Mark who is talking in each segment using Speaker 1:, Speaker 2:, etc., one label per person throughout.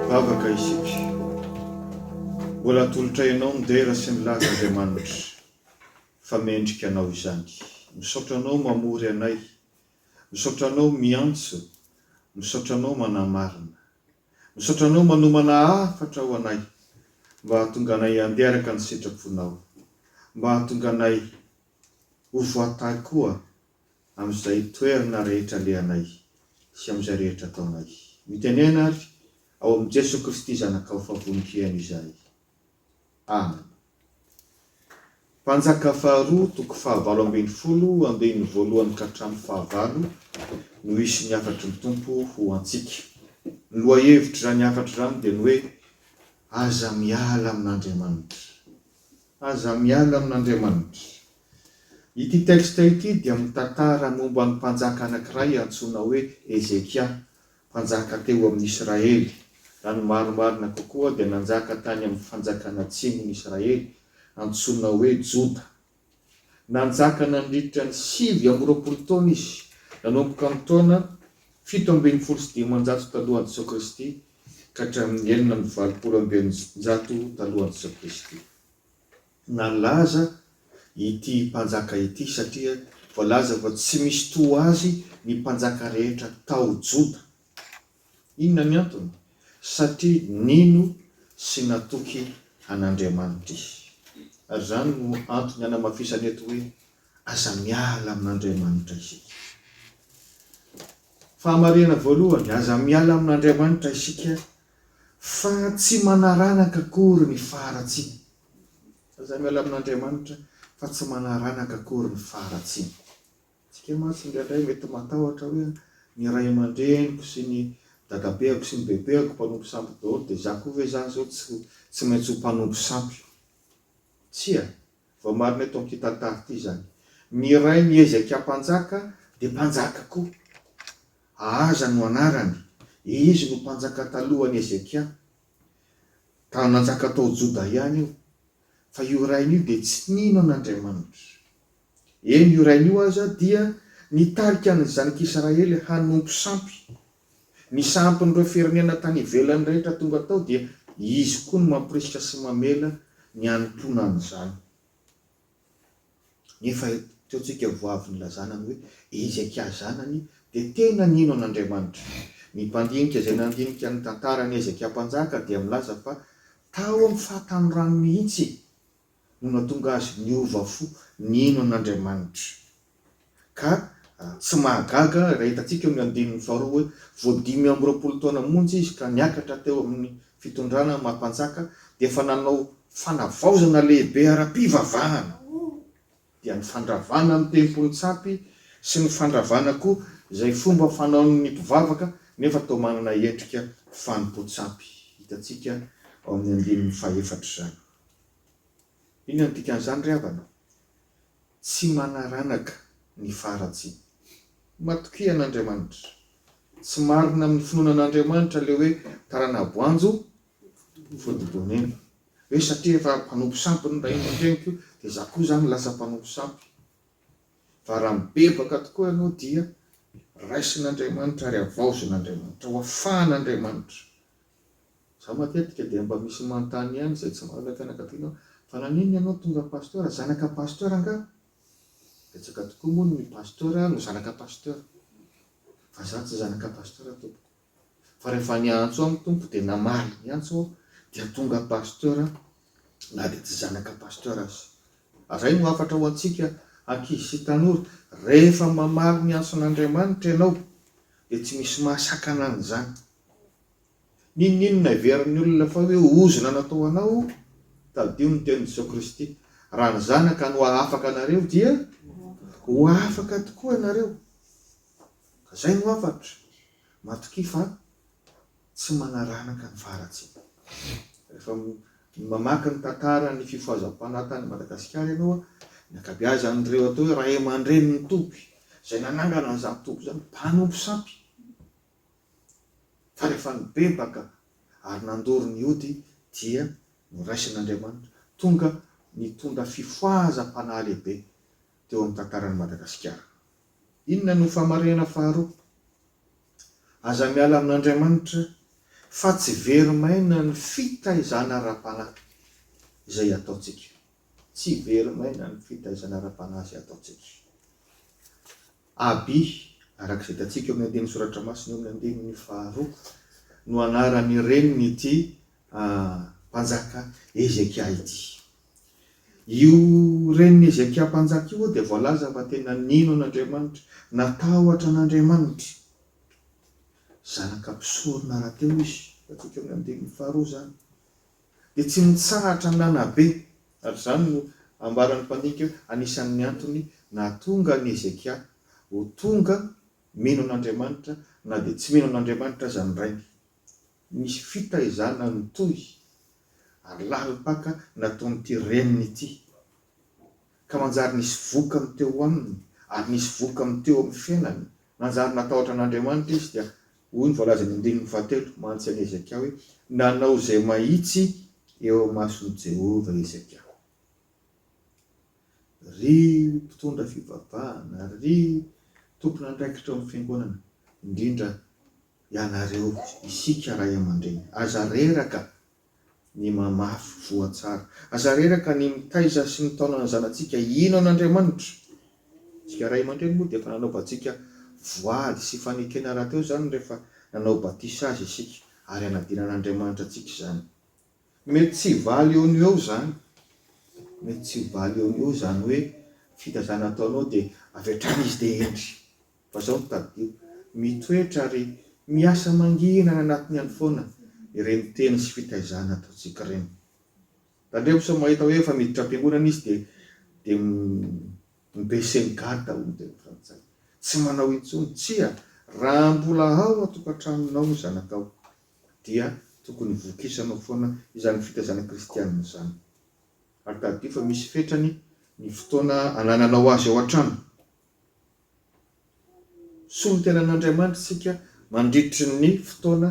Speaker 1: Vavaka isika. Mbola atolotray anao ny dera sy ny laza Andriamanitra fa mendrika anao izany. Misaotra anao mamory anay. Misaotra anao miantso. Misaotra anao manamarina. Misaotra anao manomana hafatra ho anay mba hahatonga anay handeha araka ny sitraponao. Mba hahatonga anay ho voatahy koa amin'izay toerana rehetra alehanay sy amin'izay rehetra ataonay. Mitenena ary ao amin'i Jesoa Kristy Zanakao fa vonon-kihena izahay. Amen. Mpanjaka faharoa toko fahavalo ambin'ny folo andininy voalohany ka hatramin'ny fahavalo no hisy ny hafatry ny Tompo ho antsika. Ny lohahevitr'izany hafatra izany dia ny hoe Aza miala amin'Andriamanitra. Aza miala amin'Andriamanitra. Ity texte ity dia mitantara momba ny mpanjaka anankiray antsoina hoe Hezekia, mpanjaka teo amin'ny Israely. Raha ny marimarina kokoa dia nanjaka tany amin'ny fanjakana atsimon'i Israely antsoina hoe Joda. Nanjaka nandritra ny sivy amby roapolo taona izy, nanomboka amin'ny taona fito ambin'ny folo sy dimanjato talohan'i Jesoa Kristy ka hatramin'ny enina amby valopolo amby eninjato talohan'i Jesoa Kristy. Nalaza ity mpanjaka ity satria voalaza fa tsy misy toa azy ny mpanjaka rehetra tao Joda. Inona ny antony? Satria nino sy natoky an'Andriamanitra izy. Ary izany no antony hanamafisana eto hoe aza miala amin'Andriamanitra isika. Fahamarihana voalohany, aza miala amin'Andriamanitra isika fa tsy manaranaka akory ny faharatsiana. Aza miala amin'Andriamanitra fa tsy manaranaka akory ny faharatsiana. Isika mantsy indraindray mety matahotra hoe ny ray aman-dreniko sy ny dadabeako sy ny bebeako mpanompo sampy daholo dia izaho koa ve izany izao tsy maintsy ho mpanompo sampy? Tsia, Voamarina eto amin'ity tantara ity izany. Ny Ray miezaka hampanjaka dia mpanjaka koa. Ahaza no anarany. Izy no mpanjaka talohan'i Hezekia. Tany nanjaka tao Joda ihany io. Fa io rainy io dia tsy nino an'Andriamanitra. Eny, io rainy io aza dia nitarika ny zanak'Israely hanompo sampy Ny sampin'ireo firenena tany ivelany rehetra tonga tao dia izy koa no mampirisika sy mamela ny hanompoana an'izany. Nefa eto tsika vao avy nilazana ny hoe Hezekia zanany dia tena nino an'Andriamanitra. Ny mpandinika izay nandinika ny tantaran'i Hezekia Mpanjaka dia milaza fa tao amin'ny fahatanorany mihitsy no nahatonga azy niova fo nihaino an'Andriamanitra. Ka tsy mahagaga raha hitantsika eo amin'ny andininy faharoa hoe, Vao dimy amby roapolo taona monja izy ka niakatra teo amin'ny fitondrana maha mpanjaka, dia efa nanao fanavaozana lehibe ara-pivavahana, dia ny fandravana ny tempoly nitsapy sy ny fandravana koa izay fomba fanaon'ny mpivavaka nefa toa manana endrika fanompoan-tsampy. Hitantsika ao amin'ny andininy fahaefatra izany. Inona no dikan'izany ry havana? Tsy manaranaka ny faharatsiana. Matokia an'Andriamanitra. Tsy marina amin'ny finoana an'Andriamanitra ilay hoe tarana boanjo fodibon'eny. Hoe satria efa mpanompo sampy ny ray aman-dreniko dia izaho koa izany lasa mpanompo sampy. Fa raha mibebaka tokoa ianao dia raisin'Andriamanitra ary havaozin'Andriamanitra. Hoafahan'Andriamanitra. Za matetika dia mba misy manontany ihany izay tsy mahalala fianakaviana aho fa naninona ianao tonga pasteur? Zanaka pasteur angaha? Betsaka tokoa moa ny pasteur no zanaka pasteur fa za tsy zanaka pasteur tompoko fa rehefa niantso aho ny Tompo dia namaly ny antso aho dia tonga pasteur aho na dia tsy zanaka pasteur aza. Zay no hafatra ho antsika ankizy sy tanora, rehefa mamaly ny antson'Andriamanitra ianao dia tsy misy mahasakana an'izany. N'inon'inona heverin'ny olona fa hoe ozona natao anao, tadidio ny tenin'i Jesoa Kristy, Raha ny Zanaka no hahafaka anareo, dia ho afaka tokoa ianareo. Ka izay no hafatra, matokia fa tsy manaranaka ny faharatsiana. Rehefa mamaky ny tantaran'ny fifohazam-panahy tany Madagasikara ianao, ny ankabeazan'ireo atao hoe ray aman-drenin'ny toby, izay nanangana an'izany toby izany, mpanompo sampy. fa rehefa nibebaka ary nandoro ny ody dia noraisin'Andriamanitra, tonga nitondra fifohazam-panahy lehibe teo amin'ny tantaran'i Madagasikara. Inona no famarinana faharoa? Aza miala amin'Andriamanitra fa tsy very maina ny fitaizana ara-panahy izay ataontsika. Tsy very maina ny fitaizana ara-panahy izay ataontsika. AB, araka izay hitantsika eo amin'ny andinin'ny soratra masina eo amin'ny andininy faharoa, no anaran'ny renin'ity mpanjaka Hezekia ity. Io renin'i Hezekia mpanjaka io dia voalaza fa tena nino an'Andriamanitra, natahotra an'Andriamanitra. Zanaka mpisorona rahateo izy, hitantsika eo amin'ny andininy faharoa izany. dia tsy nitsahatra nanabe, ary izany no ambaran'ny mpandinika hoe anisan'ny antony nahatonga an'i Hezekia ho tonga mino an'Andriamanitra na dia tsy mino an'Andriamanitra aza ny rainy. Nisy fitaizana nitohy, ary lalim-paka nataon'ity reniny ity. Ka manjary nisy vokany teo aminy, ary nisy vokany teo amin'ny fiainany. Nanjary natahotra an'Andriamanitra izy, dia hoy ny voalaza eny andininy fahatelo, mantsy an'i Hezekia hoe, Nanao izay mahitsy eo imason'i Jehovah Hezekia. Ry mpitondra fivavahana, ry tompon'andraikitra eo amin'ny fiangonana, indrindra ianareo, isika ray aman-dreny, aza reraka! ny mamafy voa tsara. Aza reraka ny mitaiza sy mitaona ny zanatsika hino an'Andriamanitra. Isika ray aman-dreny moa dia efa nanaovantsika voady sy fanekena rahateo izany rehefa nanao batisa azy isika, ary hanadino an'Andriamanitra antsika izany. Mety tsy hivaly eo no eo izany. Mety tsy hivaly eo no eo izany hoe fitazana ataonao dia avy hatrany izy dia hendry. Fa zao no tadidio, mitoetra ary miasa mangina any anatiny any foana ireny teny sy fitaizana ataontsika ireny. Tandremo sao mahita hoe efa miditra am-piangonana izy dia dia mi baisser ny garde hoy ny teny frantsay. Tsy manao intsony. Tsia, raha mbola ao an-tokantranonao ny zanakao dia tokony vokisanao foana izany fitaizana kristianina izany. Ary tadidio fa misy fetrany ny fotoana anananao azy ao an-trano. solontenan'Andriamanitra isika mandritry ny fotoana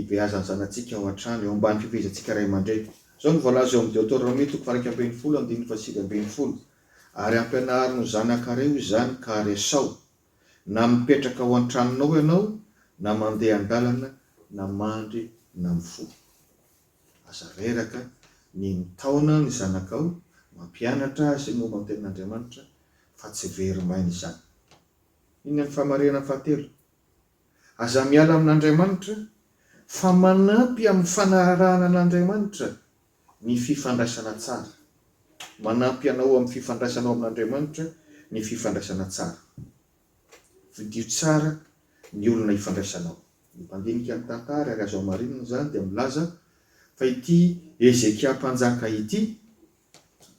Speaker 1: ibeazan'ny zanatsika ao an-trano, eo ambany fifehezantsika ray aman-dreny. Izao no voalaza eo amin'ny Deoteronomia toko faha iraika ambin'ny folo andininy fahasivy ambin'ny folo, Ary ampianaro ny zanakareo izany ka aresao, na mipetraka ao an-tranonao ianao, na mandeha an-dalana, na mandry, na mifoha. Aza reraka, ny mitaona ny zanakao, mampianatra azy momba ny tenin'Andriamanitra, fa tsy very maina izany. Inona ny famarinana fahatelo? Aza miala amin'Andriamanitra, fa manampy amin'ny fanarahana an'Andriamanitra ny fifandraisana tsara. Manampy anao amin'ny fifandraisanao amin'Andriamanitra ny fifandraisana tsara. Fidio tsara ny olona ifandraisanao. Ny mpandinika ny tantara ary azo hamarinina izany dia milaza fa ity Hezekia mpanjaka ity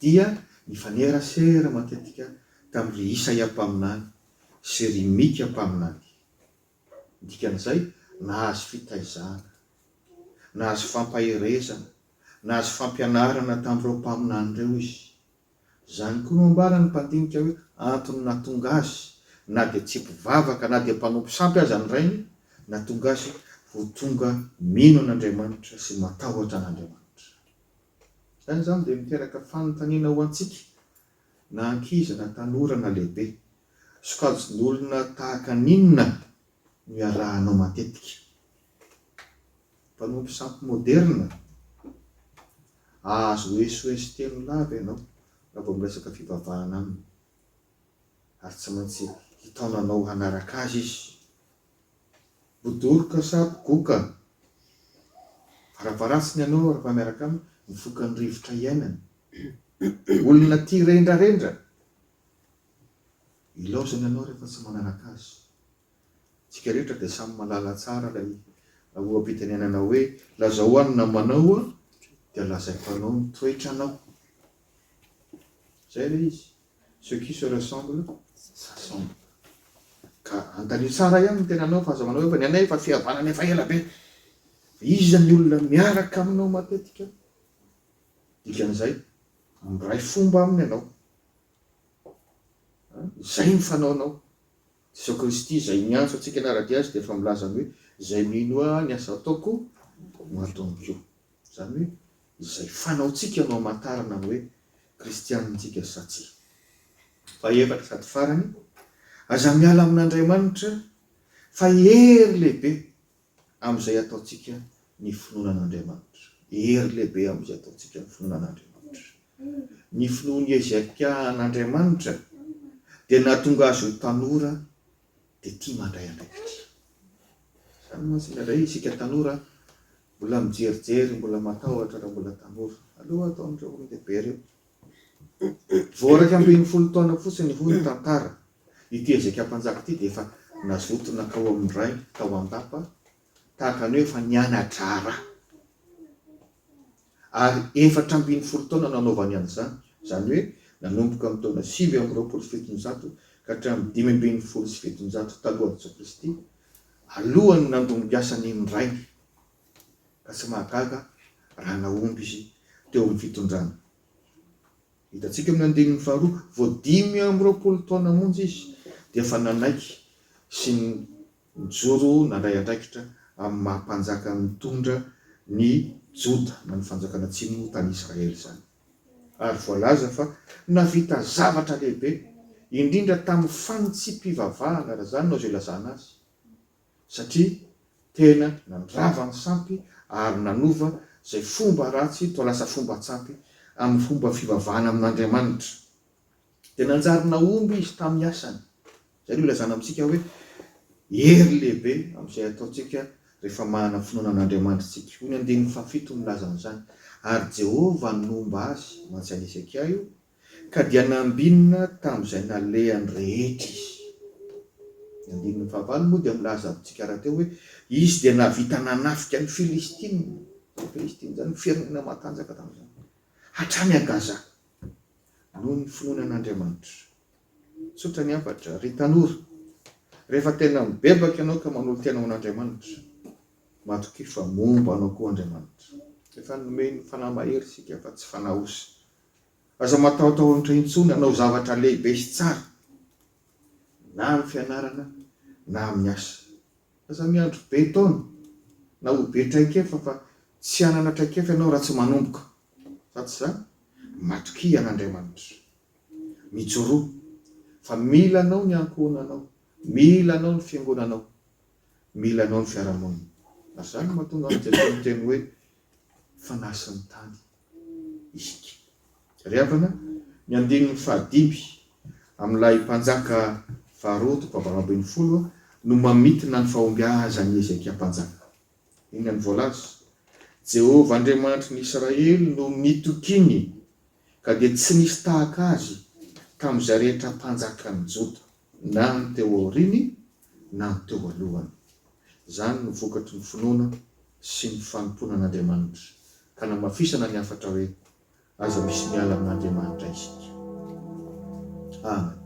Speaker 1: dia nifanerasera matetika tamin' ry Isaia mpaminany sy ry Mika mpaminany. Ny dikan'izay, nahazo fitaizana, nahazo fampaherezana, nahazo fampianarana tamin'ireo mpaminany ireo izy. Izany koa no ambaran'ny mpandinika hoe antony nahatonga azy, na dia tsy mpivavaka na dia mpanompo sampy aza ny rainy, nahatonga azy ho tonga mino an'Andriamanitra sy matahotra an'Andriamanitra. Izany izany dia miteraka fanontaniana ho antsika, na ankizy na tanora na lehibe, Sokajin'olona tahaka an'inona no iarahanao matetika? Mpanompo sampy moderina? Ahazo SOS telo lahy ve ianao raha vao miresaka fivavahana aminy? Ary tsy maintsy hitaona anao hanaraka azy izy? Bodoroka sa bogoka? Varavaratsiny ianao rehefa miaraka aminy, mifoka ny rivotra iainany. Olona tia rendrarendra? Ilaozany ianao rehefa tsy manaraka azy. Isika rehetra dia samy mahalala tsara ilay loham-pitenenana hoe, Lazao ho ahy ny namanao aho, dia lazaiko anao ny toetranao. Izay ilay izy, Ceux qui se ressemblent s'assemblent. Ka andanio tsara ihany ny tenanao fa aza manao hoe, fa ny anay efa fihavanana efa ela be. Fa iza ny olona miaraka aminao matetika? Dikan'izay, miray fomba aminy ianao. Izay ny fanaonao. Jesosy Kristy izay miantso antsika hanara-dia Azy dia efa milaza ny hoe, Izay mino Ahy, ny asa ataoko no ataony koa. Izany hoe, izay fanaontsika no hamantarana ny hoe kristianina antsika sa tsia. Fahefatra sady farany, aza miala amin'Andriamanitra fa hery lehibe. Amin'izay ataontsika ny finoana an'Andriamanitra. Hery lehibe amin'izay ataontsika ny finoana an'Andriamanitra. Ny finoan'i Hezekia an'Andriamanitra dia nahatonga azy ho tanora dia tia mandray andraikitra. Izany mantsy indraindray isika tanora mbola mijerijery, mbola matahotra raha mbola tanora. Aleo ataon'ireo olon-dehibe ireo. Vao iraika ambin'ny folo taona fotsiny hoy ny tantara Ity Hezekia mpanjaka ity dia efa nazoto nankao amin'ny rainy tao an-dapa, tahaka ny hoe efa niana-draharaha. Ary efatra ambin'ny folo taona no anaovany an'izany, izany hoe nanomboka amin'ny taona sivy amby roapolo sy fitonjato ka hatramin'ny dimy ambin'ny folo sy fitonjato talohan'i Jesoa Kristy, alohan'ny nandongiasany ny rainy. Ka tsy mahagaga raha nahomby izy teo amin'ny fitondrany. Hitantsika amin'ny andininy faharoa, vao dimy amby roapolo taona monja izy dia efa nanaiky sy nijoro nandray andraikitra amin'ny maha mpanjaka nitondra ny Joda na ny fanjakana atsimo tany Israely izany. Ary voalaza fa nahavita zavatra lehibe, indrindra tamin'ny fanitsipivavahana, raha izany no azo ilazana azy. satria tena nandrava ny sampy ary nanova izay fomba ratsy toa lasa fomba tsampy amin'ny fomba fivavahana amin'Andriamanitra. Dia nanjary nahomby izy tamin'ny asany. Izay no ilazana amintsika hoe hery lehibe amin'izay ataontsika rehefa manana finoana an'Andriamanitra isika. Hoy ny andininy fahafito milaza an'izany, Ary Jehovah nomba azy, mantsy an'i Hezekia io, Ka dia nambinina tamin'izay nalehany rehetra izy. Ny andininy fahavalo moa dia milaza amintsika rahateo hoe, Izy dia nahavita nanafika ny Filistina, izany Filistina izany, ny firenena matanjaka tamin'izany, hatrany à Gaza, noho ny finoany an'Andriamanitra. Tsotra ny hafatra, ry tanora, rehefa tena mibebaka ianao ka manolo-tena ho an'Andriamanitra, matokia fa momba anao koa Andriamanitra. Efa nomeny fanahy mahery isika fa tsy fanahy osy, Aza matahotahotra intsony hanao zavatra lehibe sy tsara, na amin'ny fianarana na amin'ny asa. Aza miandry be taona na ho be traikefa fa tsy hanana traikefa ianao raha tsy manomboka. Fa tsy izany, matokia an'Andriamanitra. Mijoroa fa mila anao ny ankohonanao, mila anao ny fiangonanao, mila anao ny fiarahamonina. Ary izany no mahatonga an'i Jesoa niteny hoe, Fanahy sy ny tany. isika. Ry havana, ny andininy fahadimy amin'ilay mpanjaka faharoa toko fahavalo ambin'ny folo no mamintina ny fahombiazan'i Hezekia mpanjaka. Inona no voalaza? Jehovah Andriamanitry ny Israely no nitokiany, ka dia tsy nisy tahaka azy tamin'izay rehetra mpanjakan'ny Joda, na ny teo aoriany na teo alohany. Izany no vokatry ny finoana sy ny fanompoana an'Andriamanitra, ka namafisana ny hafatra hoe, Aza misy miala amin'Andriamanitra isika. Amen.